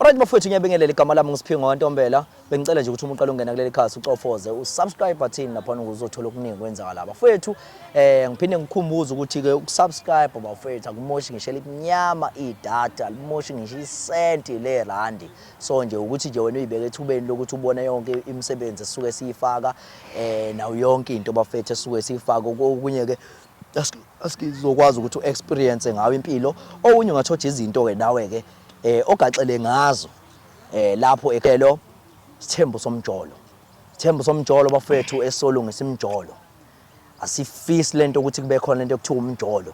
Alright bafowethu ngiyabingelela igama lami ngisiphingo kaNtombela bengicela nje ukuthi umuntu alungena kuleli khasi ucofoze usubscribe button lapha uzothola okuningi kwenzakala lapha bafowethu eh ngiphinde ngikhumbuze ukuthi ke ukusubscribe bafowethu akumoshi ngisho elinyama idata limoshi ngisho isenti le randi so nje ukuthi nje wena uyibeke ethubeni lokuthi ubone yonke imisebenzi esuke siyifaka eh nawo yonke into bafowethu esuke siyifaka okunye ke asikizokwazi ukuthi u-experience ngawo impilo okunye ungathoja izinto-ke nawe-ke um eh, ogaxele ngazo um lapho ekhelo sithembu somjolo sithembu somjolo bafethu esolungisa imjolo asifisi lento ukuthi kube khona lento okuthiwa umjolo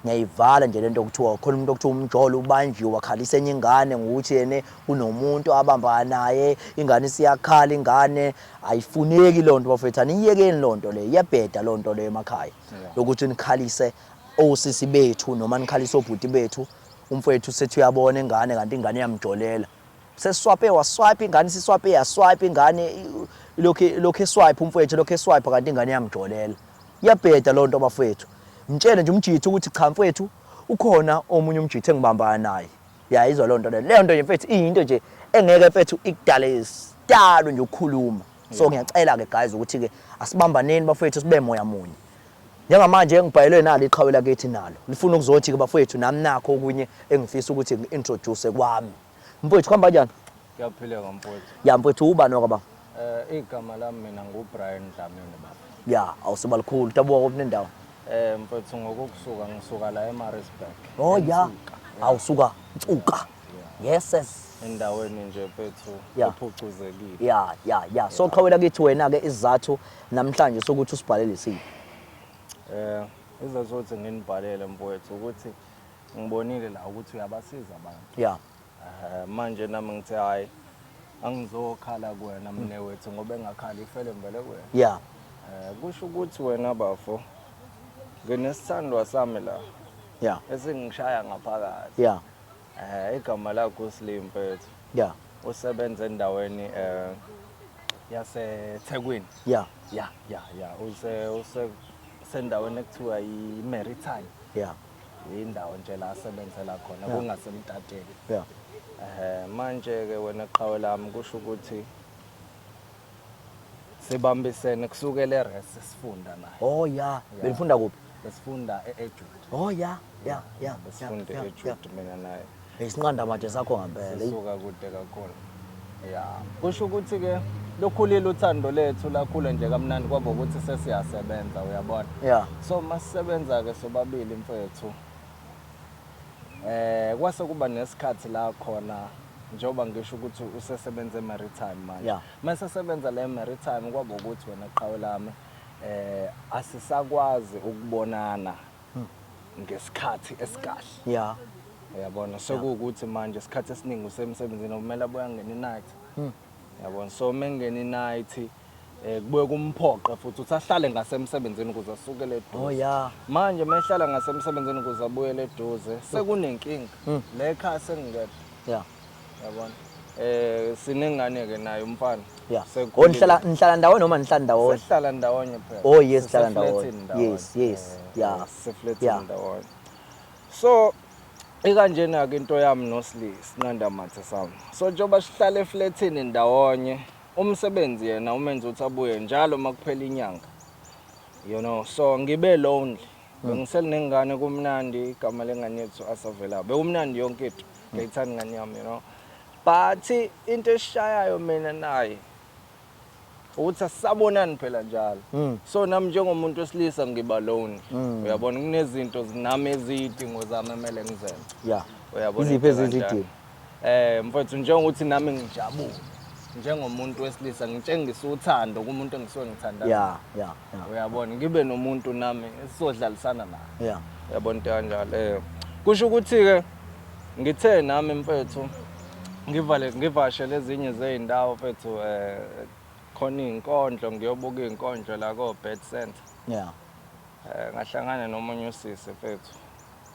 ngiyayivala nje lento okuthiwa khona umuntu okuthiwa umjolo ubanjiwe wakhalisa enye ingane ngokuthi yena kunomuntu abambana naye ingane isiyakhala ingane Ayifuneki loo nto bafethu, aniyiyekeni loo nto leyo, iyabheda loo nto leyo emakhaya yokuthi nikhalise osisi bethu noma nikhalise obhuti bethu. Umfowethu sethi uyabona ingane kanti ingane iyamjolela. Sesiswape waswipe ingane, siswape yaswipe ingane, ilokhu ilokhu eswipe umfowethu, ilokhu eswipe kanti ingane iyamjolela. Iyabheda loo nto bafowethu. Mtshele nje umjitha ukuthi cha mfowethu ukhona omunye umjitha engibambana naye. ya izwa leyo nto leyo leyo nto nje mfethu iyinto nje engeke mfethu ikudale isitalo nje ukukhuluma so ngiyacela ke guys ukuthi ke asibambaneni bafethu sibe moya munye njengamanje engibhayelwe nalo iqhawe lakithi nalo lifuna ukuzothi ke bafethu nami nakho okunye engifisa ukuthi ngi-introduce kwami mfethu kuhamba kanjani Kuyaphileka mfowethu. Ya mfowethu ubani wakaba? Eh igama lami mina nguBrian Dlamini baba. Ya awusuba likhulu tabuka kuphi nendawo. Eh mfowethu ngokusuka ngisuka la eMaritzburg. Oh ya. Awusuka Nsuka. Yes yes. Endaweni nje mfowethu Ya. ephucuzekile. Ya ya ya. So qhawela kithi wena ke isizathu namhlanje sokuthi usibhalele isiphi. Eh izazothi nginibhalele mfowethu ukuthi ngibonile la ukuthi uyabasiza abantu. Ya. manje nami ngithe hayi angizokhala kuwena mne wethu ngoba engakhali ifele ngibele kuwena yeah eh kusho ukuthi wena bafo nginesithandwa sami la yeah esingishaya ngaphakathi yeah eh igama lakho uSlimpethu yeah usebenza endaweni eh yaseThekwini yeah yeah yeah yeah use use sendaweni ekuthiwa yiMaritime yeah yindawo nje la asebenzela khona Yeah. kungasemtateni yeah ehe manje ke wena qhawe lami kusho ukuthi sibambisene kusukela eres sifunda naye oh yeah benifunda kuphi besifunda e-ejude oh yeah yeah yeah besifunda yeah, yeah. ejude mina naye Isinqanda mathe sakho ngampela. Sisuka kude kakhulu. Ya. Kusho ukuthi ke lokhulile uthando lethu lakhula nje kamnandi kwabo ukuthi sesiyasebenza uyabona. Yeah. So masisebenza ke sobabili mfethu. Eh kwase kuba nesikhathi la khona njengoba ngisho ukuthi usesebenza eMaritime manje. Yeah. Mase sebenza la eMaritime kwabo ukuthi wena qhawe lami eh asisakwazi ukubonana ngesikhathi esikahle yeah uyabona sekuwukuthi manje isikhathi esiningi usemsebenzini okumele abuya ngena inight hmm. yabona so uma engena inight eh kubuye kumphoqe futhi uthi ahlale ngasemsebenzini ukuze asukele eduze oh yeah manje uma ehlala ngasemsebenzini ukuze abuyele eduze sekunenkinga hmm. le ekhaya sengingekho yeah yabona eh sinengane ke naye umfana yeah Sekhulile. onihlala nihlala ndawonye noma nihlala ndawonye sihlala ndawonye phela Oh, yes, sihlala ndawonye. Siseflethini ndawonye. Yes, yes, Eh, yeah, yeah. siseflethini ndawonye so ikanjena ke into yami nosli sinqanda mathe sami so njengoba sihlala eflethini ndawonye umsebenzi yena umenza ukuthi abuye njalo uma kuphela inyanga you know so ngibe lonely Hmm. bengiselinengane kumnandi igama lengane yethu asavela bekumnandi yonke into ngiyayithanda ingane yami you know but into eshayayo mina naye ukuthi asisabonani phela njalo mm. so nami njengomuntu wesilisa ngiba lone mm. uyabona kunezinto zinami ezidingo zami emele ngizenze yeah uyabona iziphi ezizidingo eh mfowethu njengokuthi nami ngijabule njengomuntu wesilisa ngitshengisa uthando kumuntu engisuke ngithandayo yeah yeah yeah uyabona ngibe nomuntu nami esizodlalisana naye yeah uyabona into kanjalo eh kusho ukuthi ke Ngithe nami mfethu ngivale ngivashele ezinye zezindawo mfethu eh khona izinkondlo ngiyobuka izinkondlo la ko Bed Center. Yeah. Eh ngahlangana nomunye usisi mfethu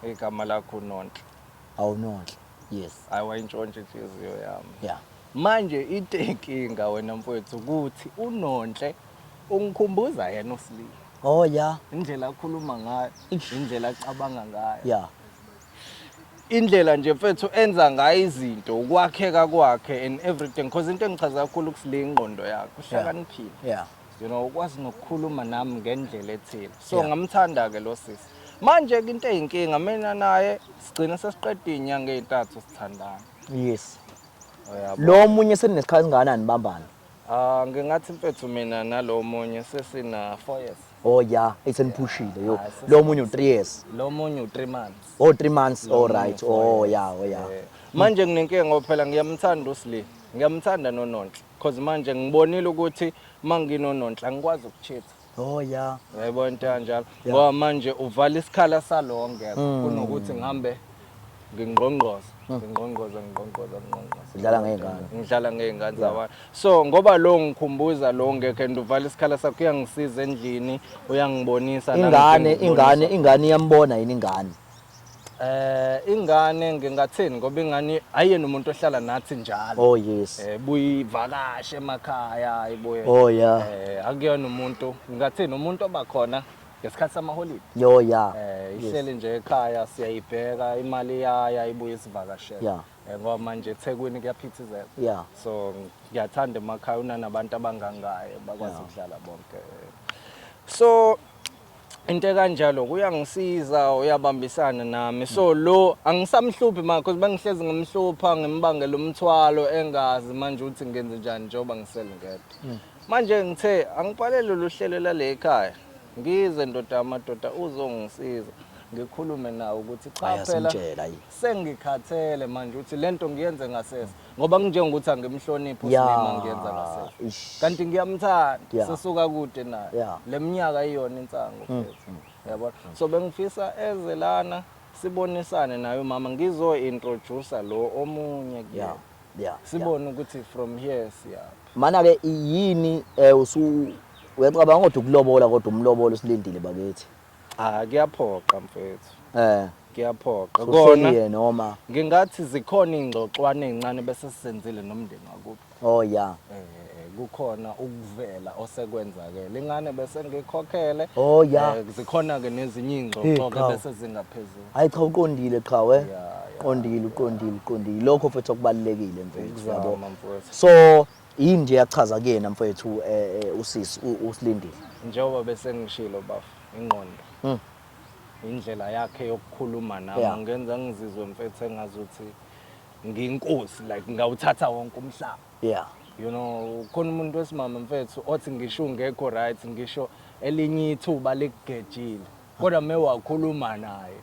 igama lakho uNonhle. Awunonhle. Yes. Hayi wayintshontsha inhliziyo yami. Yeah. Manje into enkinga wena mfethu ukuthi uNonhle ungikhumbuza yena uSlima. Oh yeah. Indlela akhuluma ngayo, indlela acabanga ngayo. Yeah. indlela nje mfethu enza ngayo izinto ukwakheka kwakhe and everything because into engichaza kakhulu kusile ingqondo yakhe uhlakaniphile yeah you know ukwazi nokukhuluma nami ngendlela ethile so yeah. ngamthanda ke lo sisi manje ke into eyinkinga mina naye sigcina sesiqeda inyanga ezintathu sithandana yes lo munye seninesikhathi singakanani bambana Ah ngingathi mfethu mina nalo munye sesina 4 years. Oh yeah, eseniphushile yo. Ah, sesi- Lo munye u3 years. Lo munye u3 months. Oh 3 months. Lo All munye right. u-four Oh years. yeah, oh yeah. Eh, Manje nginenkinga ngoba phela ngiyamthanda uSli. Ngiyamthanda noNonhle because manje ngibonile ukuthi manginoNonhle angikwazi ukuchitha. Oh yeah. Yebo into kanjalo. Ngoba manje uvala isikhala salonke hmm. kunokuthi ngihambe ngingqongqoza, hmm. ngingqongqoza, ngingqongqoza, ngingqongqoza. Ngidlala ngezingane. Ngidlala ngezingane zabantu. So ngoba lo ngikhumbuza lo ngeke and uvala isikhala sakho uyangisiza endlini, uyangibonisa ingane, ingane, ingane iyambona yini ingane. Eh ingane ngingathini ngoba ingane ayena umuntu ohlala nathi njalo. Oh yes. Eh buyivakashe emakhaya ayibuye. Oh yeah. Eh akuyona umuntu ngingathini umuntu obakhona ngesikhathi samaholidi. Yo yeah. Eh ihleli nje ekhaya siyayibheka imali yaya ibuye isivakashela. Yeah. Eh, ngoba manje eThekwini kuyaphithizela. Yeah. So ngiyathanda emakhaya unanabantu abangangaye bakwazi ukudlala bonke. So into ekanjalo kuyangisiza uyabambisana nami so lo angisamhluphi manje because bengihlezi ngimhlupha ngimbangela umthwalo engazi manje ukuthi ngenze njani njengoba ngisele ngedwa hmm. manje ngithe angibhalele lolu hlelo lale ekhaya ngize ndoda amadoda uzongisiza ngikhulume nawo ukuthi cha phela Sengikhathele manje ukuthi lento ngiyenze ngasese ngoba kunjengokuthi angimhloniphi Yeah. uSlima ngiyenza ngasese. Ish. Kanti ngiyamthanda Yeah. sisuka kude naye. Yeah. Mm, Leminyaka iyona insango mfethu. Yabona? So bengifisa eze lana sibonisane naye umama ngizo introduce lo omunye kuye. Yeah. Yeah. Sibone ukuthi from here siyaphi. Mana ke yini eh usu uyacabanga kodwa ukulobola kodwa umlobolo silindile bakithi. Cha kuyaphoqa mfethu. Eh. Kuyaphoqa. Kona yena oma. Ngingathi zikhona ingxoxwane ezincane bese sisenzile nomndeni wakubo. Oh yeah. Eh kukhona ukuvela osekwenzakele. Ingane bese ngikhokhele. Oh yeah. Eh, zikhona ke nezinye ingxoxo ke bese zingaphezulu. Hayi cha uqondile qha we. Yeah. Qondile uqondile uqondile. Lokho mfethu okubalekile mfethu yabo. So Yini nje yachaza kuyena mfethu eh, eh, usisi u- usilindile njengoba bese ngishilo bafo ingqondo Mm. indlela yakhe yokukhuluma nami Yeah. ngenza ngizizwe mfethu engazuthi nginkosi like ngawuthatha wonke umhlaba yeah you know khona umuntu wesimama mfethu othi ngisho ungekho right ngisho elinye ithuba likugejile kodwa me wakhuluma naye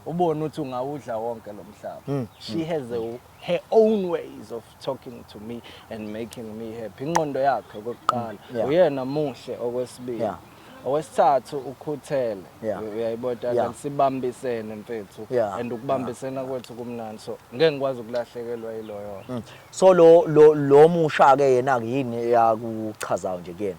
ubone ukuthi ungawudla wonke lo mhlaba she has a, her own ways of talking to me and making me happy inqondo yakhe okokuqala mm, yeah. uyena muhle okwesibili yeah. owesithathu ukhuthele yeah. uyayibona yeah. sibambisene mfethu yeah. and ukubambisena yeah. kwethu kumnandi so ngeke ngikwazi ukulahlekelwa yiloyo mm. so lo lo, lo musha ke yena yini eyakuchazayo nje kuyena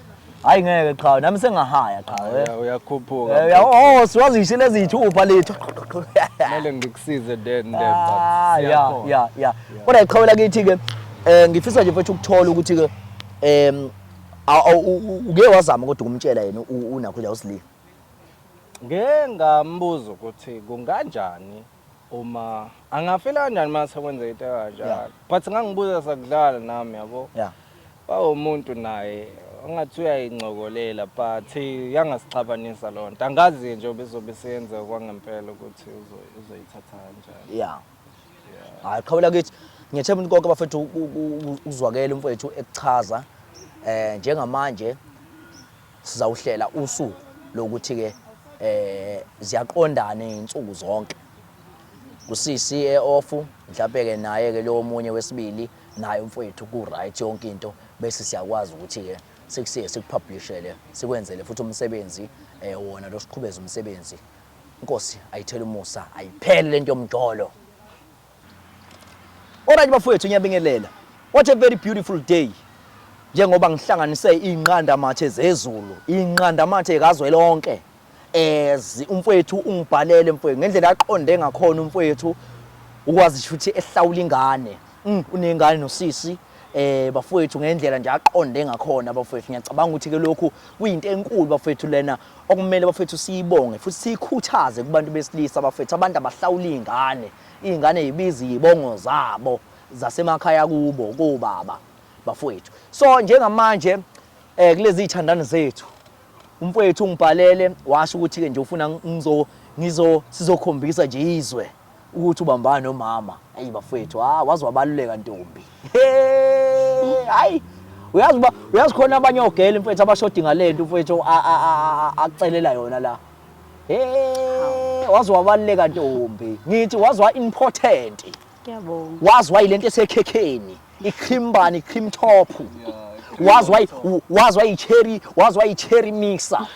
hayi ngeke qhawe nami sengahaya qhawe uyakhuphuka eh, oh siwazi ngisho lezi ithupha lethu kumele ngikusize then then ah, ya ya ya kodwa iqhawe lakithi ke eh ngifisa nje mfethu ukuthola ukuthi ke em uke wazama kodwa ukumtshela yena unakho nje usilile ngengambuzo ukuthi kunganjani Uma angafila kanjani uma sekwenzeka into ekanjalo. Yeah. But ngangibuza sakudlala nami yabo. Yeah. Bawumuntu naye angathi uyayincokolela but yangasixabanisa loo nto angazi nje obezobe seyenzeka kwangempela ukuthi uzoyithatha kanjani ya hayi qhawula kithi ngiyethemba ukuthi konke abafethu ukuzwakela umfowethu ekuchaza um njengamanje Sizawuhlela usuku lokuthi-ke eh ziyaqondana izinsuku zonke kusisi eofu mhlawumbe ke naye ke lo omunye wesibili naye umfowethu ku right yonke into bese siyakwazi ukuthi ke sikusiye sikupublishele sikwenzele futhi umsebenzi eh wona lo siqhubeza umsebenzi inkosi ayithela umusa ayiphele lento yomjolo Alright bafowethu ngiyabingelela. What a very beautiful day. Njengoba ngihlanganise inqandamathe zezulu, inqandamathe kazwelonke. As umfowethu ungibhalele mfowethu ngendlela aqonde ngakhona umfowethu ukwazi ukuthi ehlawula ingane. Mm, unengane nosisi eh bafowethu ngendlela nje aqonde ngakhona bafowethu ngiyacabanga ukuthi ke lokhu kuyinto enkulu bafowethu lena okumele bafowethu siyibonge futhi siyikhuthaze kubantu besilisa bafowethu abantu abahlawula ingane Iy'ngane yibiza iy'bongo zabo zasemakhaya kubo kobaba bafowethu. So njengamanje eh kulezi zithandani zethu umfowethu ungibhalele washo ukuthi ke nje ufuna ngizo ngizo sizokhombisa nje izwe ukuthi ubambana nomama. Ayi bafowethu, ha wazi wabaluleka ntombi. Hey! Hayi uyazi uba uyazi khona abanye ogela mfethu abashodi ngalento mfethu acelela yona la Hey, waze wabaleka ntombi. Ngithi waze wa important. Ngiyabonga. Waze wayilento esekhekheni, ikhimbani, ikhim top. Waze wayi waze wayi cherry, waze wayi cherry mixer.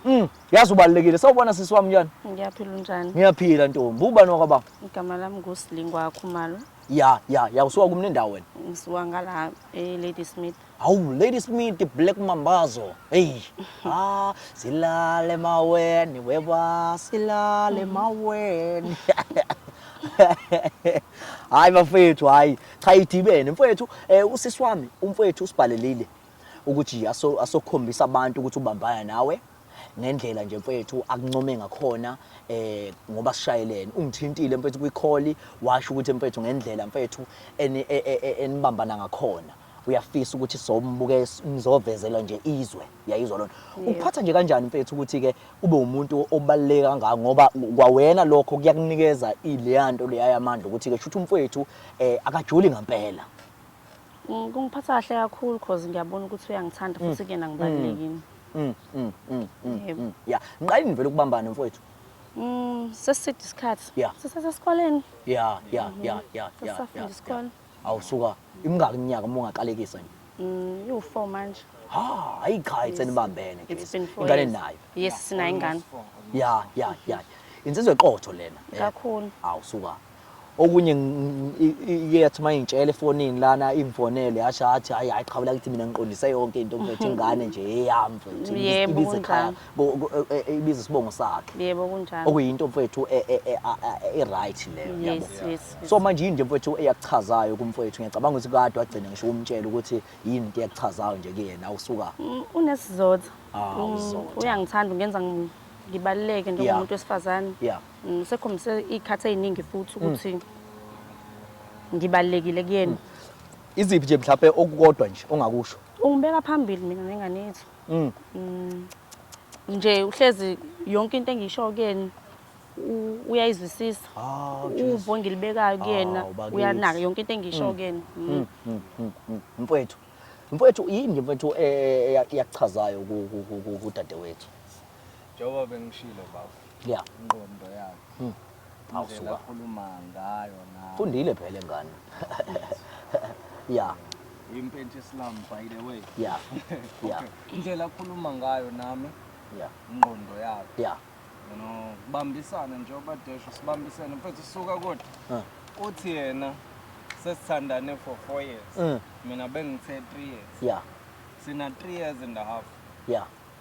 Mm, yazi ubalekile. Sawubona sisi wami njani? Ngiyaphila unjani? Ngiyaphila ntombi. Ubani wakwababa? Igama lami nguSilingwa Khumalo. Ya, ya, ya usuka kumne ndawo wena? Ngisuka ngala eLadysmith. Hawu Lady Smith Black Mambazo. Hey. Ah, silale maweni weba silale mm. maweni. Hayi bafethu hayi cha idibene mfethu eh usisi wami umfethu usibhalelile ukuthi aso asokhombisa abantu ukuthi ubambana nawe ngendlela nje mfethu akuncome ngakhona eh ngoba sishayelene ungithintile mfethu kwikholi washo ukuthi mfethu ngendlela mfethu e, e, e, enibambana ngakhona uyafisa ukuthi sombuke nizovezela nje izwe yayizwa lona ukuphatha nje kanjani mfethu ukuthi ke ube umuntu obaluleke kangaka ngoba kwawena lokho kuyakunikeza ileya nto leya yamandla ukuthi ke shuthi umfethu eh akajoli ngempela mm, kungiphatha kahle kakhulu cause ngiyabona ukuthi uyangithanda futhi mm. kuyena ngibalulekini mm, mm, mm, mm, Yebo. mm. ya ngiqalini vele ukubambana mfowethu Mm, seside isikhathi. Yeah. Sisasesikoleni. ya ya ya ya ya, ya, Sisafunda ya. isikole. Awu suka, imingaki iminyaka uma ungaqalekisa nje? Mm, iwu-four manje. Ha, hayi cha, it's enibambene It's Grace. been four Ingane years. nayo. Yes, sinayo ingane. Ya, ya, ya. Insizwe eqotho lena. eh. Kakhulu. Awu suka. Okunye ng- i- i- iye yathi uma ingitshela efonini lana ingifonele yasho athi hayi hayi qhawula kithi mina ngiqondise yonke into ngiphethe ingane nje eyami mfethu. Yebo, Ibize ekhaya. kunjalo. ibiza isibongo sakhe yebo kunjalo okuyinto mfowethu e, e, e, e-right leyo yes, yes, yes. so manje yini nje mfowethu eyakuchazayo kumfowethu ngiyacabanga ukuthi kade wagcina ngisho umtshela ukuthi yini into eyakuchazayo nje kuyena usuka mm, unesizotha ah, mm, uyangithanda ungenza ngibaluleke njengomuntu wesifazane mm, sekhombise iy'khathi ey'ningi futhi ukuthi ngibalulekile kuyena iziphi nje mhlawumbe okukodwa nje ongakusho ungibeka phambili mina nengane yethu Mm. Mm. Nje uhlezi yonke into engisho kuyena u- uyayizwisisa. Ah, Jesu. Uvo engilibekayo kuyena Awu, bakithi. uyanaka yonke into engisho kuyena. Mm. Mm, mm, mm, mm. Mfowethu. Mfowethu yini mfowethu eh, eh, eyakuchazayo ku- ku- ku- ku- kudadewethu? Njengoba bengishilo baba. Yeah. Ingqondo yakhe. Hmm. Awusuka. Akhuluma ngayo na. Fundile phela ngane. Yeah. Impentshi Islam by the way. Yeah. Yeah. Indlela akhuluma ngayo nami. Yeah. Ingqondo yakhe. Yeah. You know, bambisana njengoba desho sibambisene mfethu suka kodwa. Huh. Uthi yena sesithandane for 4 years. Mm. Mina bengithe 3 years. Yeah. Sina 3 years and a half. Yeah.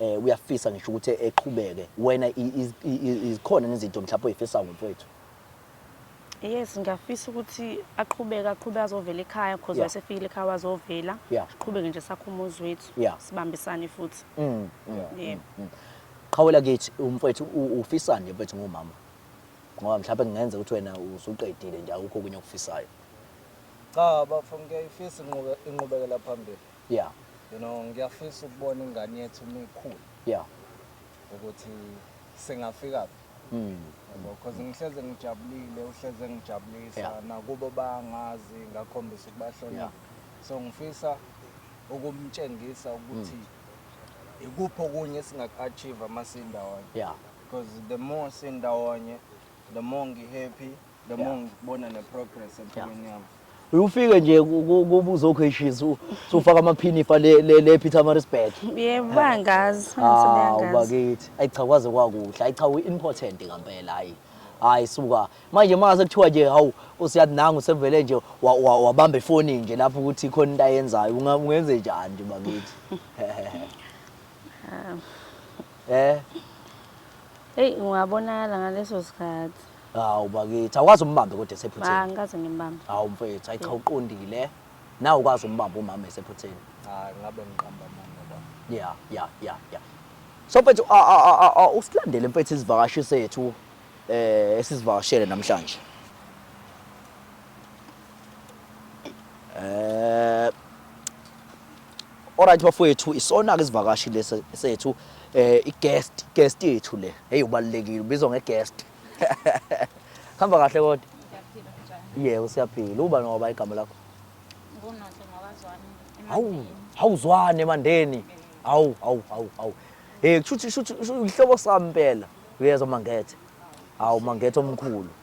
eh uyafisa ngisho ukuthi eqhubeke wena izikhona nezinto mhlawumbe oyifisa ngomfowethu Yes ngiyafisa ukuthi aqhubeke aqhubeke azovela ekhaya because yeah. wasefikile ekhaya wazovela yeah. siqhubeke nje sakho umuzi wethu yeah. sibambisane futhi mm, mm, yeah. yeah. mm, mm. qhawela kithi umfowethu ufisani nje mfowethu ngumama ngoba mhlawumbe kungenza ukuthi wena usuqedile nje awukho kunye okufisayo cha bafo ngiyayifisa inqubekela phambili yeah you know ngiyafisa ukubona ingane yethu uma ikhula yeah ukuthi singafika hmm. because ngihleze ngijabulile uhleze ngijabulisa yeah. nakubo bangazi ngakhombisa ukubahlonipha yeah. so ngifisa ukumtshengisa ukuthi mm. ikuphi okunye esingaku-achieve uma sindawonye yeah. because the more sindawonye the more ngi-happy the more ngibona ne progress empilweni yami uyufike nje kuba uzokheshisa usufaka amaphini ifa le le Peter Marisburg yebo bangazi ah ubakithi ayi cha kwaze kwakuhle ayi cha u important ngempela hayi hayi suka manje mase kuthiwa nje hawu usiyathi nangu sevele nje wabamba ifoni nje lapho ukuthi khona into ayenzayo ungenze njani nje bakithi ah. eh hey ungabonakala ngaleso sikhathi Hawu bakithi, awukazi umbambe kodwa esephutheni. Ba ngikaze ngimbambe. Hawu mfethu, ayi cha uqondile. Nawe ukwazi umbamba umama esephutheni. Hayi ngabe ngiqamba amanga baba. Yeah, yeah, yeah, yeah. So mfethu, a a a a- a usilandele mfethu izivakashi sethu eh esizivakashele namhlanje. Eh Alright bafowethu isona ke isivakashi lesi sethu eh i guest guest yethu le hey ubalekile ubizwa nge guest Hamba kahle kodwa Yebo siyaphila uba noba igama lakho Ngunonhle ngawazwani Hawu hawuzwane emandeni hawu hawu hawu hawu hey kushuthi shuthi ihlobo sami impela uyezwa mangethe hawu mangethe omkhulu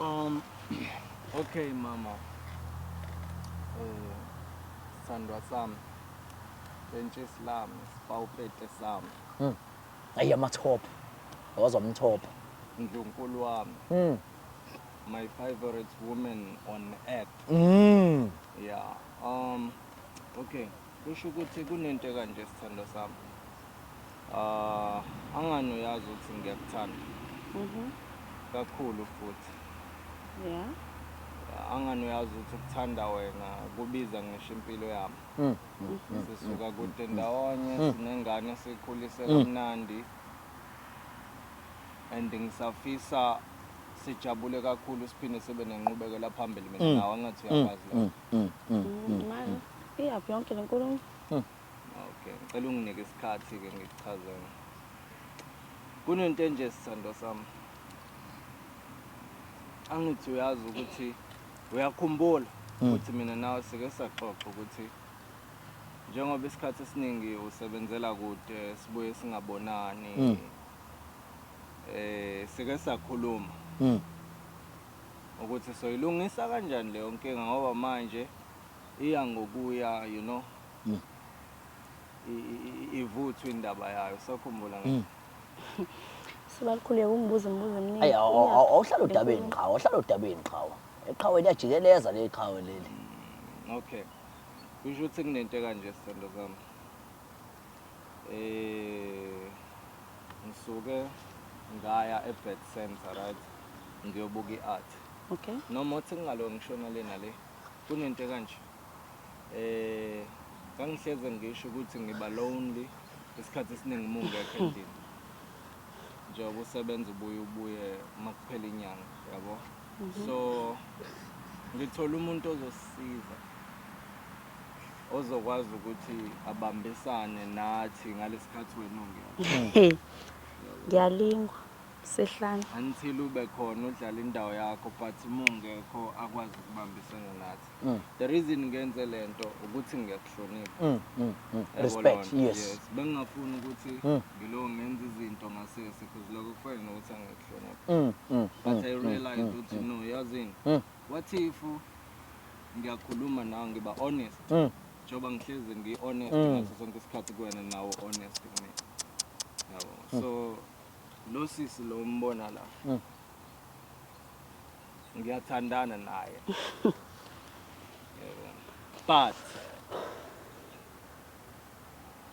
Um, okay mama eh, sandwa sami bentshesi lami sibawupete sami hmm. ayi amathopha wazwa mthopha ndlunkulu wami mm. my favorite woman on earth mm. yeah um okay Kusho ukuthi kunento ekanje sithando sami. Ah, angani uyazi ukuthi ngiyakuthanda. Mhm. Kakhulu futhi. Yeah. Angani uyazi ukuthi ukuthanda wena kubiza ngisho impilo yami. Mm. Mm. Sisuka kude ndawonye Mm. sinengane sikhulise Mm. kamnandi. And ngisafisa sijabule kakhulu siphinde sibe nenqubekela phambili mina Mm. nawe angathi Mm. uyakwazi Mm. lokho. Mm, mm, mm, mm. Manje iyaphi yonke le nkulumo? Okay, ngicela unginike isikhathi ke ngikuchazele. Kunento enje sithandwa sami. Angithi uyazi ukuthi uyakhumbula Mm. ukuthi mina nawe sike saxoxa ukuthi njengoba isikhathi esiningi usebenzela kude sibuye singabonani. Mm. Eh sike sakhuluma Mm. ukuthi soyilungisa kanjani leyo nkinga ngoba manje iya ngokuya you know mm. ivuthwa indaba yayo sakhumbula ngisho mm. sebalikhuleka umbuzo umbuzo eminingi awuhlala odabeni qhawe awuhlala odabeni qhawe eqhawe liyajikeleza le qhawe leli mm, okay kusho ukuthi kunento kanje sithando sami Eh ngisuke ngaya eBird Center right ngiyobuka iArt. Okay. Noma uthi ngingalo ngishona lena le. Kunento kanje. Eh ngangihleze ngisho ukuthi ngiba lonely isikhathi esiningi mungekho endlini. Njengoba usebenza ubuye ubuye makuphela inyanga yabo. Mhm. So ngithola umuntu ozosiza. ozokwazi ukuthi abambisane nathi ngalesikhathi wena ungekho. Ngiyalingwa sehlane. Until ube khona udlala indawo yakho but uma ungekho akwazi ukubambisana nathi. Mm. The reason ngenze lento ukuthi ngiyakuhlonipha. Mm, mm, mm. Yabo Respect, lonto, yes. Bengingafuni ukuthi Mm. ngilo ngenza izinto ngasese because lokho kufana nokuthi angikuhlonipha. Mm, mm, But mm, I mm, realized mm, ukuthi mm. no yazini. Mm. What if ngiyakhuluma nawe ngiba honest mm. njengoba mm. ngihlezi ngi-honest mm. ngaso sonke isikhathi kuwena nawo honest kumina yabo mm. so lo sisi lo mbona la mm. ngiyathandana naye but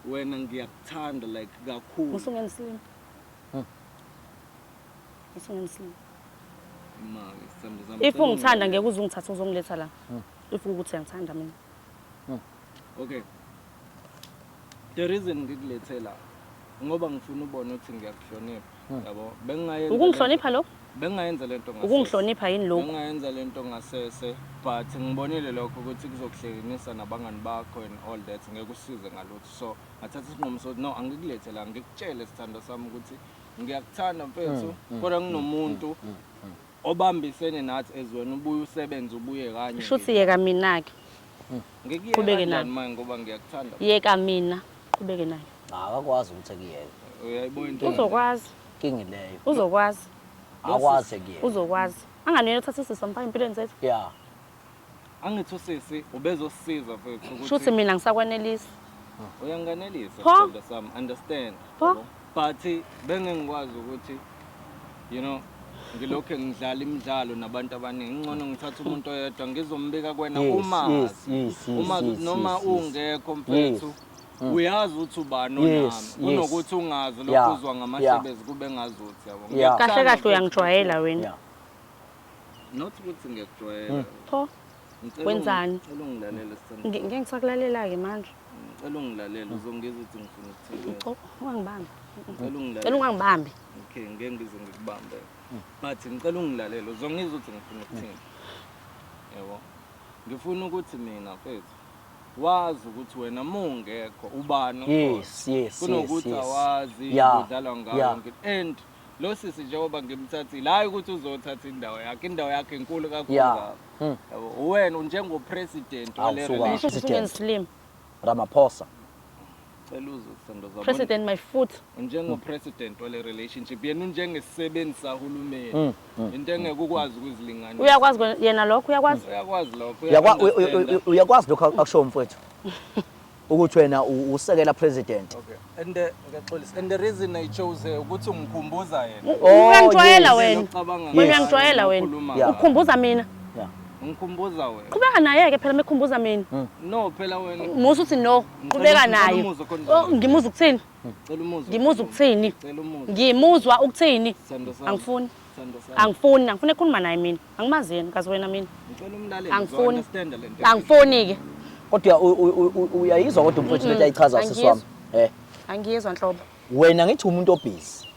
wena ngiyakuthanda like kakhulu usungenziwe if ungithanda ngeke uze ungithathe uzongiletha la hmm. if ukuthi uyangithanda mina hmm. okay the reason ngikulethe la ngoba ngifuna ubone ukuthi ngiyakuhlonipha hmm. yabo bengingayenza ukungihlonipha lokho bengingayenza lento ngasese ukungihlonipha yini lokho bengingayenza lento ngasese but ngibonile lokho ukuthi kuzokuhlekenisa nabangani bakho and all that ngeke usize ngalutho so ngathatha isinqumo sokuthi no angikulethe la ngikutshele sithando sami ukuthi ngiyakuthanda mfethu mm, mm, kodwa mm, nginomuntu obambisene nathi ezweni ubuye usebenze ubuye kanye shuthi yeka mina ke ngikuyeke nani manje ngoba ngiyakuthanda yeka mina qhubeke naye akakwazi ukuthi ekuyeke uyayibona into uzokwazi kingi leyo uzokwazi akwazi ekuyeke uzokwazi anganele uthatha isisa mfana empilweni zethu yeah Angithi usisi ubezosisiza mfethu ukuthi Shuthi mina ngisakwanelisa. Uyanganelisa Pho? sithandwa sami, understand. Pho? yabo. But bengengikwazi ukuthi you know ngilokhu ngidlala imidlalo nabantu abaningi. Ngcono ngithatha umuntu oyedwa ngizombika kwena Yes, uma yes, yes, yes, uma yes, noma yes, yes. ungekho mfethu. Mm. Uyazi ukuthi ubani Yes, onami yes. kunokuthi ungazi Yeah, lokhu uzwa yeah. ngamahlebezi kube ngazi ukuthi yabo. Yeah. Kahle Ngiyakuthanda kahle mfethu. uyangijwayela wena. Yeah. Not ukuthi ngiyakujwayela. Hmm. Pho. Wenzani? Ngicela ungilalele sithando. Ngeke ngisakulalela ke manje. Ngicela ungilalele uzongizwa ukuthi ngifuna ukuthini. Ngicela ungangibambi. Ngicela ungilalele. Ngicela ungangibambi. Okay, ngeke ngize ngikubambe. Ngathi hmm. ngicela ungilalele uzongizwa ukuthi ngifuna ukuthini. Yebo. Ngifuna ukuthi mina mfethu wazi ukuthi wena mungekho ubani yes yes kunokuthi awazi udlala ngayo and lo sisi njengoba ngimthathile hhayi ukuthi uzothatha indawo yakhe indawo yakhe inkulu kakhulu Yeah. kakhulu. Hmm. Yabo, uwena njengopresident Awu, wale suka. relationship. Ngisho ukuthi President. ungeslim. Ramaphosa. Cela uzwe Sendoza, bona. President my foot. njengopresident wale relationship yena unjengesisebenzi sahulumeni Mm, mm, into engeke ukwazi ukuzilinganisa Uyakwazi kwe- yena lokho uyakwazi. uyakwazi lokho Uyakwa- uya- uya- uya- Uyakwazi lokho akushoyo mfowethu. ukuthi wena usekela president okay and the ngiyaxolisa and the reason i chose eh, ukuthi ungikhumbuza yena oh, uyangijwayela wena uyangijwayela wena ukhumbuza mina ngikhumbuza wena qhubeka naye ke phela mekhumbuza mina hmm. no phela wena musa uthi no qhubeka naye oh, ngimuza ukuthini hmm. ngimuza ukuthini ngimuzwa ukuthini angifuni angifuni angifuni ekhuluma naye mina Angimazi yena kazi wena mina. Ngicela umlaleli. Angifuni. Angifuni ke. Kodwa uyayizwa kodwa umfowethu lento ayichaza sisi wami. Eh. Angiyizwa nhlobo. Wena ngithi umuntu obhizi.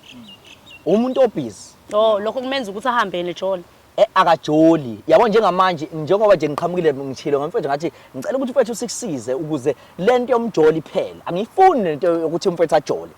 Umuntu obhizi. Oh, lokho kumenza ukuthi ahambe nejoli. Eh akajoli. Yabo njengamanje njengoba nje ngiqhamukile ngithilo ngamfethu ngathi ngicela ukuthi mfethu sikusize ukuze lento yomjoli phela angiyifuni lento yokuthi umfethu ajole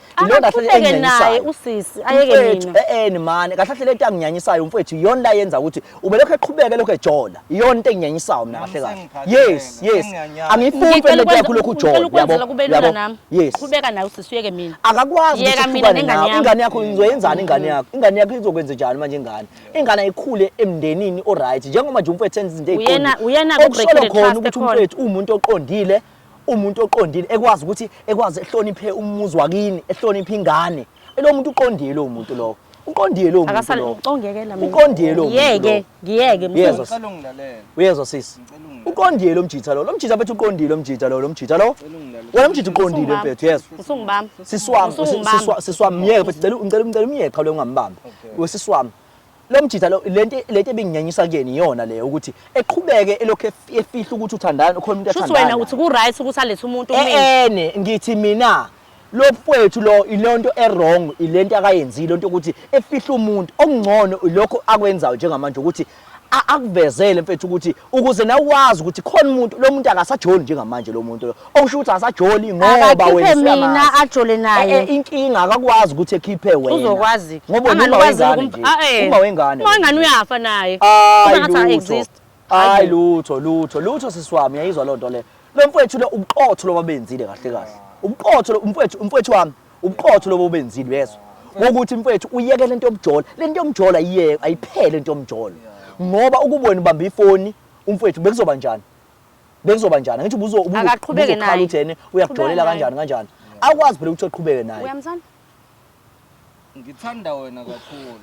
aqhubeke naye usisi ayeke mina eh mani kahle kahle lento anginyanyisayo umfethu iyona la yenza ukuthi ubelokho eqhubeke lokho ejola iyona into enginyanyisayo mina kahle kahle yes yes angiyifuni phela lento yakho lokhu ujola yabo yabo yes qhubeka naye usisi uyeke mina akakwazi ukuthi mina nengane yakho ingane yakho ngizoyenzani ingane yakho ingane yakho izokwenza njani manje ingane ingane ayikhule emndenini oright njengoba nje umfowethu enza izinto Uyena- eziqondile. uyena Okusolwa ku-break-in khona trust ukuthi ekhona. umfowethu uwumuntu oqondile umuntu oqondile ekwazi ukuthi ekwazi ehloniphe umuzi wakini ehloniphe ingane lo muntu uqondile lo muntu lowo uqondile lo muntu akasale lowo ucongekela mina. Uqondile lo muntu ngiyeke lo. ngiyeke mfowethu. Yezwa. Ngicela ungilalele. uyezwa sisi uqondile lo mjitha lo lo mjitha bethu uqondile lo mjitha lo lo mjitha lo wena mjitha uqondile mfethu yes usungibami siswami siswami myeke mfethu ngicela ngicela ngicela umyeke qha lo ngambamba wesiswami lo mjitha lo lento lento ebinginyanyisa kuyena iyona leyo ukuthi eqhubeke elokhu efihla ukuthi uthandana ukhona umuntu athandana shuthi wena uthi ku right ukuthi alethe umuntu eh, mina ene ngithi mina lo mfwethu lo ilonto ewrong ilento akayenzile lonto ukuthi efihla umuntu okungcono lokho akwenzayo njengamanje ukuthi akuvezele mfethu ukuthi ukuze nawe wazi ukuthi khona umuntu lo muntu akasajoli njengamanje lo muntu okusho ukuthi asajoli ngoba wena mina ajole naye eh, eh, inkinga akakwazi ukuthi ekhiphe wena uzokwazi ngoba uma wengane uma wengane uma wengane uyafa naye uma ngathi exist hayi lutho lutho lutho sisi wami yayizwa loo nto le lo mfwethu lo ubuqotho loba benzile kahle kahle ubuqotho umfwethu umfwethu wami ubuqotho loba ubenzile uyezwa wokuthi mfwethu uyeke lento yomjola lento yomjola ayiyeke ayiphele into yomjola ngoba ukubona ubamba ifoni umfwethu bekuzoba njani bekuzoba njani ngithi ubuzo ubuzokhala naye uthene uyakujolela kanjani kanjani akwazi phela ukuthi uqhubeke naye uyamthanda ngithanda wena kakhulu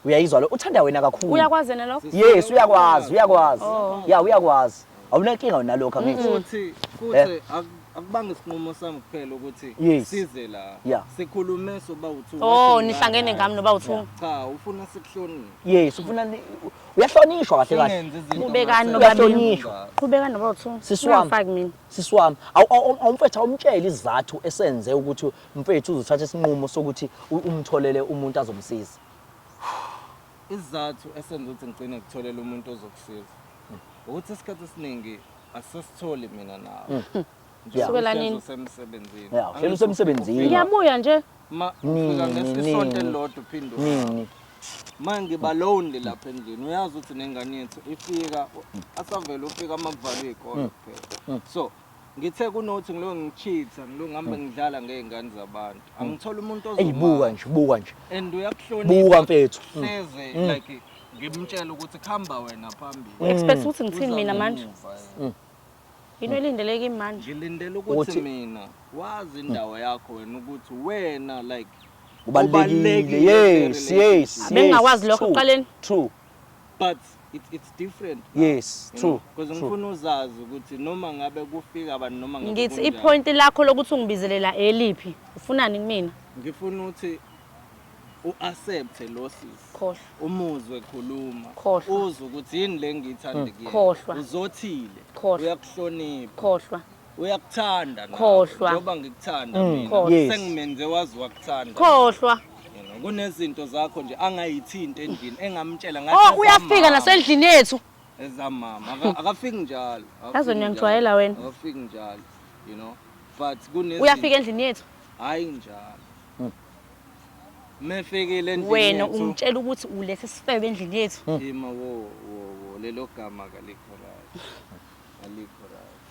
uyayizwa lo uthanda wena kakhulu uyakwazi yena lokho yes uyakwazi uyakwazi oh. ya uyakwazi awunankinga wena lokho angithi futhi futhi eh? akubanga isinqumo sami kuphela ukuthi size la sikhulume soba uthu oh nihlangene ngami noba uthu cha ufuna sikuhloniphe yes ufuna uyahlonishwa kahle kahle ubekani nobabili qhubekani noba uthu sisiwami faki mina sisiwami awumfethu awumtshela izathu esenze ukuthi mfethu uzothatha isinqumo sokuthi umtholele umuntu azomsiza Isizathu esenza ukuthi ngigcine ngikutholela umuntu ozokusiza ukuthi isikhathi esiningi asisitholi mina nawe. Hmm. Yeah. Sukela nini? Usemsebenzini. Yeah, uhleli usemsebenzini. Ngiyabuya nje. Ma, ufika ngesisonto elilodwa uphinde. Nini? manje ngiba lonely lapha endlini uyazi ukuthi nengane yethu ifika asavele ufika amakuvalwe ikona mm. kuphela mm. so Ngithe kunothi ngilo ngicheatha ngilo ngihambe hmm. ngidlala ngezingane zabantu. Hmm. Angithola umuntu ozoma. Eyibuka nje, buka nje. And uyakuhlonipha. Buka mfethu. Hmm. Hleze like ngimtshela ukuthi khamba wena phambili. U expect ukuthi ngithini mina manje? Yini elindeleke imanje? Ngilindele ukuthi mina wazi indawo yakho wena ukuthi wena like ubalekile. Yes, yes. Abengakwazi lokho qaleni. True. but it's, it's different now, yes you true know, because true ngifuna uzazi ukuthi noma ngabe kufika abantu noma ngabe ngithi kunjani. ipoint lakho lokuthi ungibizelela eliphi ufunani kumina ngifuna ukuthi u-accepte lo sisi khohlwa umuzwe khuluma Khohlwa. uzwe ukuthi yini le ngithi andikuyena. khohlwa. uzothile Khohlwa. uyakuhlonipha khohlwa uyakuthanda khohlwa njengoba ngikuthanda mm. mina yes. sengimenze wazi wakuthanda khohlwa kunezinto zakho nje angayithinti endlini engamtshela ngathi oh uyafika nasendlini yethu ezamama akafiki njalo yazi ngiyangijwayela wena akafiki njalo you know but kunezinto uyafika endlini yethu hayi njalo mefikile endlini wena ungitshela ukuthi ulethe isifebe endlini yethu yima wo wo lelo gama kalikho right alikho right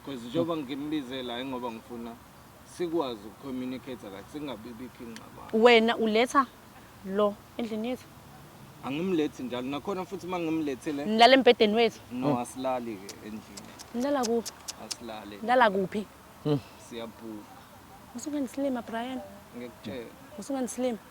because njengoba ngimbize la ingoba ngifuna sikwazi ukucommunicate kahle singabibikho ingxabano wena uletha lo endlini yethu angimlethi njalo nakhona futhi uma ngimlethile nilala embhedeni wethu no asilali ke endlini nilala kuphi asilali nilala kuphi hmm. siyabhuka usunganisilima brian ngikutshela usunganisilima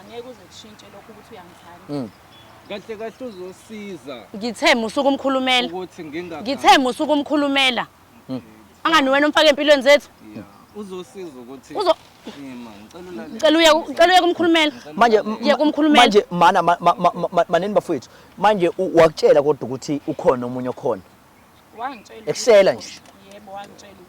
angeke uze kushintshe lokho ukuthi uyangithanda mm. kahle kahle uzosiza ngithe musuku umkhulumela ukuthi nginga ngithe musuku umkhulumela mm. angani wena umfake empilweni zethu uzosiza ukuthi uzo ngicela uye ngicela uye kumkhulumela manje uye kumkhulumela manje mana maneni bafowethu manje wakutshela kodwa ukuthi ukhona omunye okhona wangitshela ekusela nje yebo wangitshela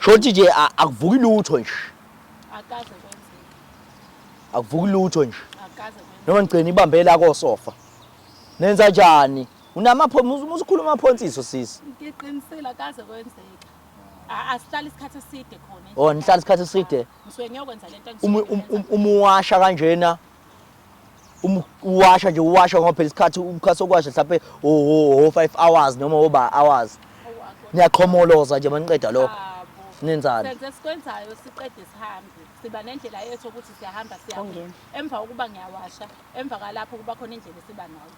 Shothi nje akuvuki lutho nje. Akaze kwenzeke. Akuvuki lutho nje. Akaze kwenzeke. Noma ngigcina ibambe la kosofa. Nenza njani? Unamaphonsi usukhuluma amaphonsiso sisi. Ngiqinisile akaze kwenzeke. Asihlala isikhathi eside khona. Oh, nihlala isikhathi eside. Ngisuke ngiyokwenza lento engisuke. Umuwasha kanjena. uma uwasha nje uwasha ngoba phela isikhathi umkhathi okwasha mhlawumbe o 5 hours noma oba hours niyaqhomoloza nje maniqeda lokho nenzani senze sikwenzayo siqede sihambe siba nendlela yethu ukuthi siyahamba siyahamba emva kokuba ngiyawasha emva kwalapho kuba khona indlela esiba nayo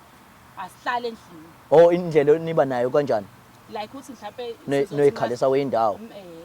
asihlale endlini oh indlela niba nayo kanjani like ukuthi mhlawumbe noyikhalisa wendawo eh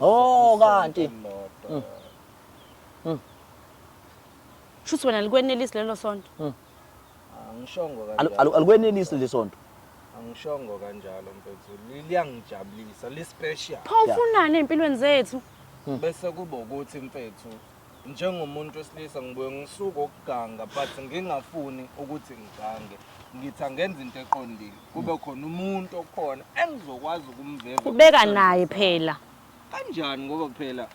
Oh kanti. Mm. Mm. Shuthi wena likwenelisi lelo sonto. Mm. Angishongo kanjalo. Alikwenelisi lesonto. Angishongo kanjalo mfethu. Liyangijabulisa, li special. Pho ufunani empilweni zethu? Bese kuba ukuthi mfethu Njengomuntu wesilisa ngibuye ngisuke ukuganga but ngingafuni ukuthi ngigange. Ngithi angenza into eqondile. Kube khona umuntu okhona engizokwazi ukumveza. Ubeka naye phela. Kanjani ngoba phela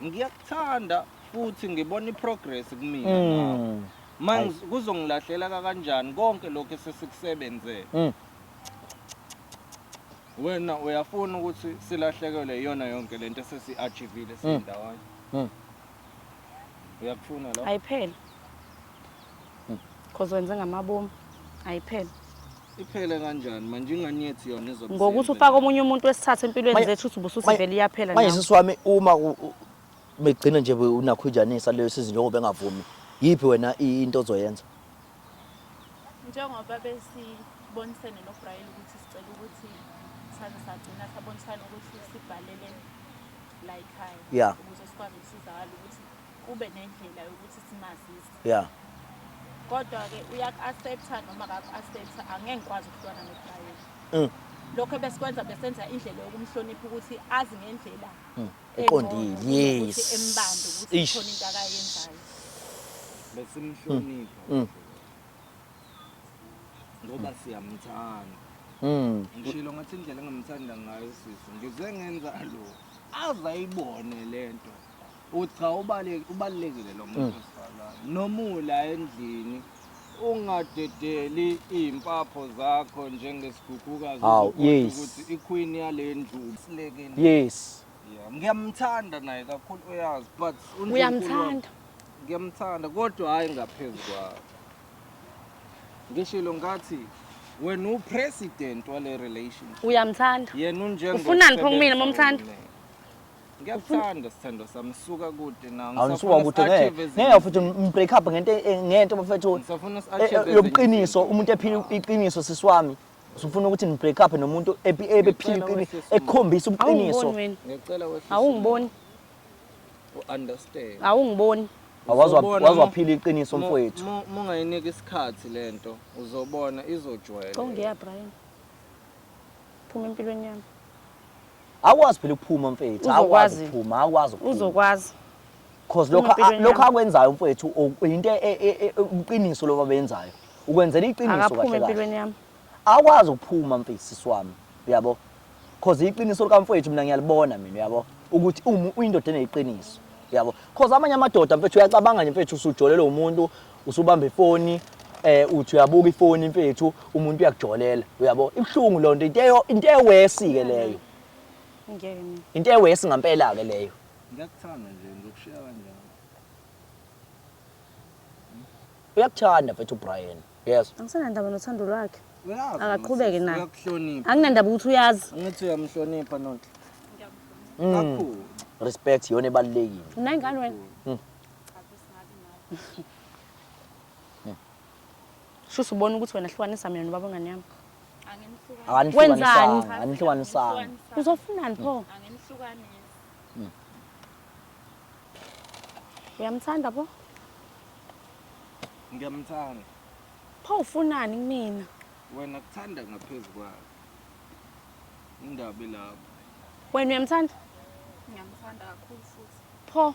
ngiyakuthanda futhi ngibona iprogress kumina mm. ngawo. Manje kuzongilahlela kanjani konke lokho esesikusebenzele. Mm. Wena uyafuna ukuthi silahlekelwe iyona yonke lento esesi-achivile Mm. sindawonye. Mm. Uyakufuna lo? ayiphele cause wenze ngamabomu ayiphele Iphele kanjani manje ingane yethu yona izobe ngokuthi seyenzeni? ufake omunye umuntu wesithathu empilweni Manje- zethu uthi ubusuthi manje- vele iyaphela manje nawe. sisi wami uma u- u- begcina nje unakhujanisa leyo sizi njengoba engavumi yiphi wena i- into ozoyenza Njengoba besibonisene noBraille ukuthi sicela ukuthi saze sagcina sabonisana ukuthi sibhalele la ekhaya yeah. ukuze sikwazi ukusizakala ukuthi kube nendlela yokuthi simazise yeah. kodwa-ke uyaku-accepta noma kaku-accepta angeke ngikwazi ukuhlukana noBraille mm. lokho ebesikwenza besenza indlela yokumhlonipha ukuthi azi ngendlela mm. Uqondile. Yes. Embambe ukuthi Eish. khona into akayenzayo. besimhlonipha Mm. ngoba siyamthanda Mm. ngishilo ngathi indlela engamthanda ngayo sisi ngize ngenza lo aze ayibone le nto ukuthi cha ubale- ubalulekile lo muntu wesifazane noma ula endlini ungadedeli iy'mpapho zakho njengesigughukazi Hawu, uzokhohlwa yes. ukuthi iqueen yale ndlu usilekelile yes Yeah, ngiyamthanda naye kakhulu uyazi but uNdlunkulu Uyamthanda? wami- ngiyamthanda kodwa hhayi ngaphezu kwakho ngishilo ngathi wena upresident wale relationship uyamthanda yena unjengo Ufunani pho kumina, momthanda? Ngiyakuthanda sithandwa sami suka kude na. Awusuka kude ngeke. Ngeke futhi mbreak up ngento e- ngento bafethu. Ngisafuna si-achieve e- e- yobuqiniso umuntu ephila iqiniso sisi wami. Usufuna ukuthi ni break up nomuntu ebephila iqiniso ekhombisa ubuqiniso. Ngicela wehlisa. Awungiboni. U understand. Awungiboni. Awazwa wazophila iqiniso mfowethu. Mungayinika isikhathi lento uzobona izojwayela. Kongiya Brian. Phuma empilweni yami. Awukwazi phela ukuphuma mfethu, awukwazi Uzokwazi. ukuphuma, awukwazi ukuphuma. uzokwazi Cause lokho Impilo a- lokho enyama. akwenzayo mfethu o- into e- e- e- ubuqiniso loba benzayo. Ukwenzela iqiniso akaphume kahle kahle. empilweni yami Awukwazi ukuphuma mfethu sisi wami, uyabo? Cause iqiniso lika mfethu mina ngiyalibona mina, uyabo? Ukuthi umu uyindoda eneqiniso. Uyabo? Cause amanye amadoda mfethu uyacabanga nje mfethu usujolelwe umuntu, usubamba ifoni eh uthi uyabuka ifoni mfethu umuntu uyakujolela uyabo ibhlungu lonto into eyo into ewesi ke leyo ngiyena into ewesi ngampela ke leyo ngiyakuthanda nje ngizokushiya kanjani uyakuthanda mfethu uBrian yes angisenandaba nothando lwakhe akaqhubeke naye uyakuhlonipha anginandaba ukuthi uyazi angithi uyamhlonipha nonke mm. kakhulu respect yona ebalekile unengane wena mm. Cha sis ngabi nawe. Shuthi ubona ukuthi wena hlukanisa mina nobaba ngane yami. Anginihlukanisi. Wenzani? Akanihlukanisanga, anihlukanisanga. Anginihlukanisa. Uzofunani pho? Anginihlukanisi. Uyamthanda pho? Ngiyamthanda. Pho ufunani kumina? Wena kuthanda ngaphezu kwakhe. Indabi lapho. Wena uyamthanda? Ngiyamthanda kakhulu futhi. Pho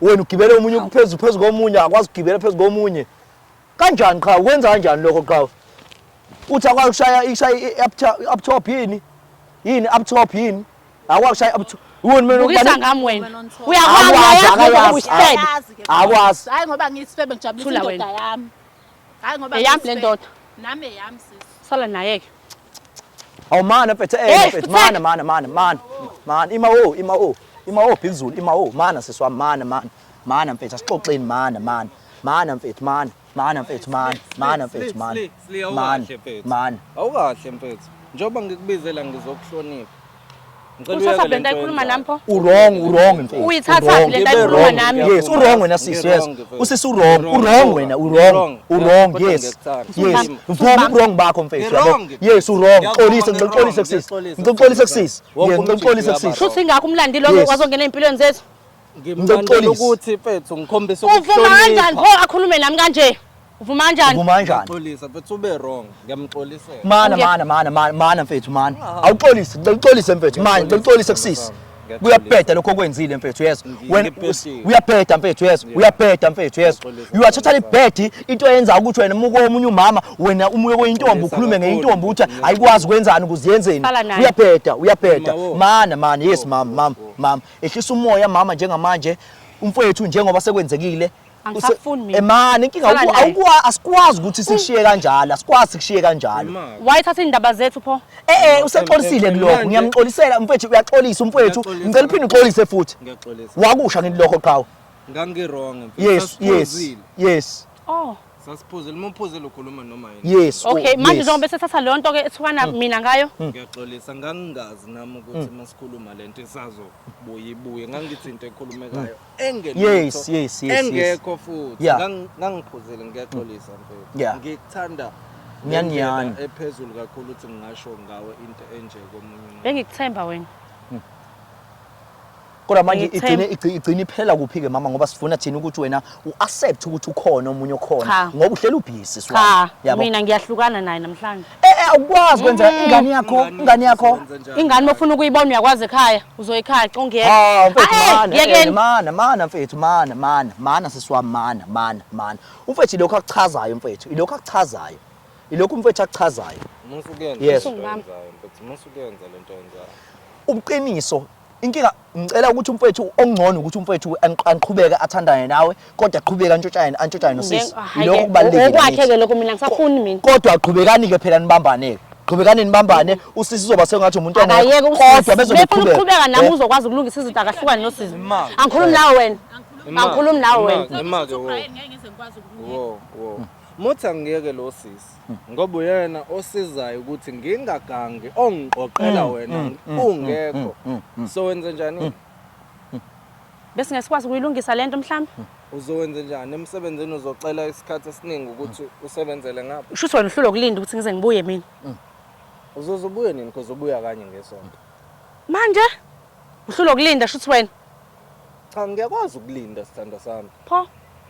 wena ugibele omunye phezu phezu komunye akwazi ukugibela phezu komunye kanjani qha ukwenza kanjani lokho qha uthi akwazi ukushaya ishaya i-up top yini yini up top yini akwazi ukushaya up top Wona mina ukubisa ngami wena. Uyakwazi akwazi. Hayi ngoba ngisifebe ngijabulisa indoda yami. Hayi ngoba eyami le ndoda. Nami eyami sisi. Sala naye ke. Awu mana mfethu eh mfethu mana mana mana mana. Mana ima o ima o. Ima o Bhikuzulu ima o mana sisi wami mana mana. Mana mfethu asixoxeni mana mana. Mana mfethu mana. Mana mfethu mana. Mana mfethu mana. Mana. Mana. Awukahle mfethu. Njengoba ngikubizela ngizokuhlonipha. Uyithatha lento ayikhuluma nami pho? Urong, urong mfethu. Uyithatha lento ayikhuluma nami. Yes, urong wena sisi, yes. Usisi urong, urong wena, urong, urong, yes. Yes. Vuma urong bakho mfethu, yabo. Yes, urong. Xolisa, ngixolise kusisi. Ngixolise kusisi. Yes, ngixolise kusisi. Shuthi ngakho umlandi lo wazongena empilweni zethu. Ngimlandela ukuthi mfethu ngikhombisa ukuhlonipha. Uvuma kanjani pho akhulume nami kanje? Uvuma kanjani? Uvuma kanjani? Ngixolisa mfethu ube wrong. Ngiyamxolisela. Mana mana mana mana mana mfethu mana. Awuxolise, ngicela uxolise mfethu. Manje ngicela uxolise kusisi. Kuyabheda lokho okwenzile mfethu yeso. Wena uyabheda mfethu yeso. Uyabheda mfethu yeso. You are totally bad into eyenza ukuthi wena muko omunye umama wena umuye kwentombi ukhulume ngeintombi ukuthi ayikwazi kwenzani ukuziyenzeni. Uyabheda, uyabheda. Mana mana yes mama mama mama. ehlisa umoya mama njengamanje umfowethu njengoba sekwenzekile angisafuni mina emani inkinga Sala naye. awukwa asikwazi ukuthi sikushiye kanjalo asikwazi sikushiye kanjalo Mama, wayithatha iy'ndaba zethu pho eh eh usexolisile Em, em, kulokho manje- ngiyamxolisela umfowethu uyaxolisa umfowethu Ngiyaxolisa. ngicela uphinde uxolise futhi ngiyaxolisa. wakusha ngithi lokho qhawe Ngangirong. yes yes yes Oh. Sasiphuzile uma uphuzile ukhuluma noma yini. Yes. Oh, okay, manje njengoba esethatha leyo nto ke ethukana mm. mina ngayo. Mm. Ngiyaxolisa ngangingazi nami ukuthi mm. masikhuluma lento isazobuye ibuye ngangithi into ekhulumekayo engekho. Yes, yes, yes. Engekho futhi ngangiphuzile ngiyaxolisa mfethu. Ngikuthanda nyaniyani ephezulu kakhulu ukuthi ngingasho ngawe into enje komunye. Bengikuthemba wena. kodwa manje Ngithe- igcine igci- igcine iphela kuphi-ke mama ngoba sifuna thina ukuthi wena u-accept ukuthi ukhona omunye Cha. okhona ngoba uhleli ubhizi cha yabo mina ngiyahlukana naye namhlanje Eh, eh, awukwazi kwenzela Mm. ingane yakho Ingane ingane yakho yakho senza njani? ingane uma ufuna ukuyibona uyakwazi ekhaya uzoyikhaya congiyeka Ah, mfethu Ah, eh, mana, eh, yekeni mana, mana mfethu, mana, mana, mana sisi wami, mana, mana, mana. Umfethu ilokho akuchazayo mfethu, ilokho akuchazayo. Ilokho umfethu akuchazayo. Musa ukuyenza Yes. lento oyenzayo, mfethu. Musa ukuyenza lento oyenzayo. Ubuqiniso Inkinga ngicela ukuthi umfowethu okungcono ukuthi umfowethu anqhubeke athandane nawe kodwa aqhubeke antshotshane antshotshane nosisi. Lokho kubalulekile. Okwakhe ke lokho mina ngisafuni mina. Kodwa aqhubekani ke phela nibambane ke. Qhubekani nibambane usisi uzoba sengathi umuntu ongekho kodwa bezoqhubeka. Uqhubeka nami uzokwazi ukulungisa izinto akahlukane nosisi. Angikhulumi nawe wena. Angikhulumi nawe wena. Imake wo. Wo wo. Muthi angiyeke lo sisi. ngoba uyena osizayo ukuthi ngingagangi ongiqoqela mm, wena mm, mm, ungekho so wenze njani bese ngesikwazi ukuyilungisa lento mhlawumbe uzowenze njani emsebenzini uzocela isikhathi esiningi ukuthi usebenzele ngapha usho wena uhlulwa ukulinda ukuthi ngize ngibuye mina uzoze ubuye nini because ubuya kanye ngesonto manje uhlulwa ukulinda shuthi wena cha ngiyakwazi ukulinda sithando sami pho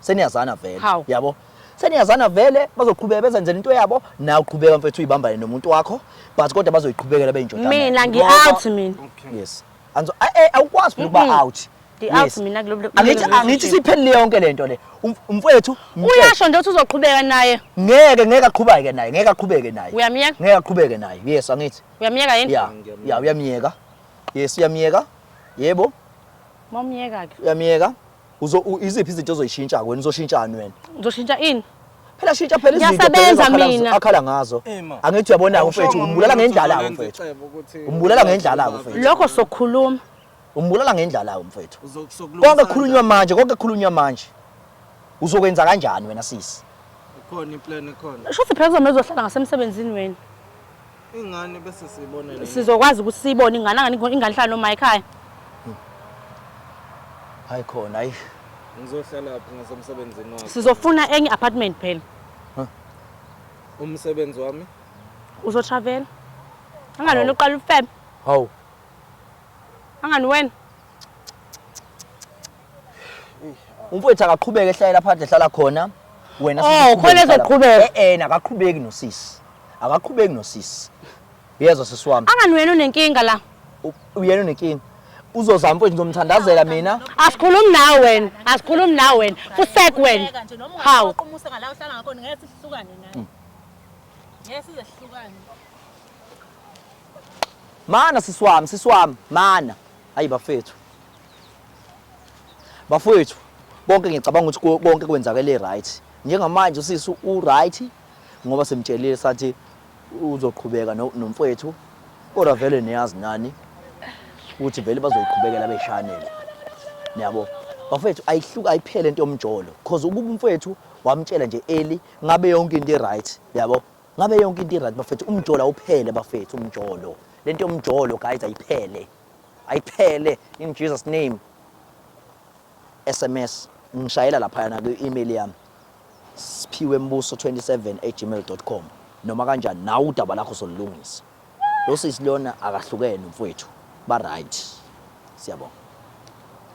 seniyazana vele Hawu. yabo seniyazana vele bazoqhubeka bezenzela into yabo nawe uqhubeka mfethu uyibambane nomuntu wakho but kodwa bazoyiqhubekela beyinjodana mina ngi-out mina yes anzo a- eh, awukwazi phela ukuba out Ngi-out Yes. mina kulo- kulo- angithi kulo- angithi siphelile yonke lento le Um- umfowethu mtshele. uyasho nje ukuthi uzoqhubeka naye ngeke ngeke aqhubeke naye ngeke aqhubeke naye Uyamyeka? ngeke aqhubeke naye yes angithi uyamyeka yini ya ya uyamyeka yes uyamyeka yebo momyeka-ke uyamyeka Uzo u- iziphi izinto ozoyishintsha wena uzoshintshani wena? Ngizoshintsha ini? Phela shintsha phela izinto phela Ngiyasebenza ezakhala- mina. akhala ngazo. Ema. Angithi uyabona Awushongo mfethu umuntu umbulala ukuthi ngendlala uzolenza mfethu. icebo ukuthi Umbulala ngendlala uzolenza mfethu. Lokho sokhuluma. Umbulala ngendlala mfethu. Uzo- sokulungisa Konke kukhulunywa manje, konke kukhulunywa manje. Uzokwenza kanjani wena sisi? kanjani? Ikhona iplan ekhona. Shuthi phela kuzomele uzohlala ngasemsebenzini wena. Ingane bese siyibona le. Sizokwazi ukuthi siyibone ingane angani ingane ihlala noma ekhaya. Hayi khona hayi. Ngizohlala phi ngasemsebenzini wakho? Sizofuna enye apartment phela. Umsebenzi wami? Uzo travel. Angani wena uqala ufebe. Hawu. Angani wena? umfowethu akaqhubeke ehlayela phandle ehlala khona wena Oh, khona ezoqhubeka. eh eh akaqhubeki nosisi akaqhubeki nosisi uyezwa sisi wami Angani wena unenkinga la. U- uyena unenkinga uzozama mfowethu ngizomthandazela mina Asikhulumi nawe wena. Asikhulumi nawe wena. Fusek wena. Ubheka nje noma Hawu. ungaqoqa umusa ngala uhlala ngakhona ngeke sihlukane nawe. Ngeke size sihlukane. mana sisi wami sisi wami mana Hayi bafethu. Bafethu, konke ngicabanga ukuthi konke kwenzakele right. Njengamanje usisi u right ngoba simtshelile sathi uzoqhubeka nomfowethu kodwa vele niyazi nani ukuthi vele bazoyiqhubekela beshanele niyabo bafethu ayihluka ayiphele into yomjolo cause ukuba umfowethu wamtshela nje eli ngabe yonke into e-right yabo Ngabe yonke into iright bafethu, umjolo awuphele bafethu, umjolo. Lento yomjolo guys ayiphele. Ayiphele in Jesus name. SMS ngishayela lapha na kwi-email yami siphiwe mbuso 27@gmail.com noma kanjani nawe udaba lakho solulungisa. Lo sisi lona akahlukene mfowethu. Ba right. Siyabonga.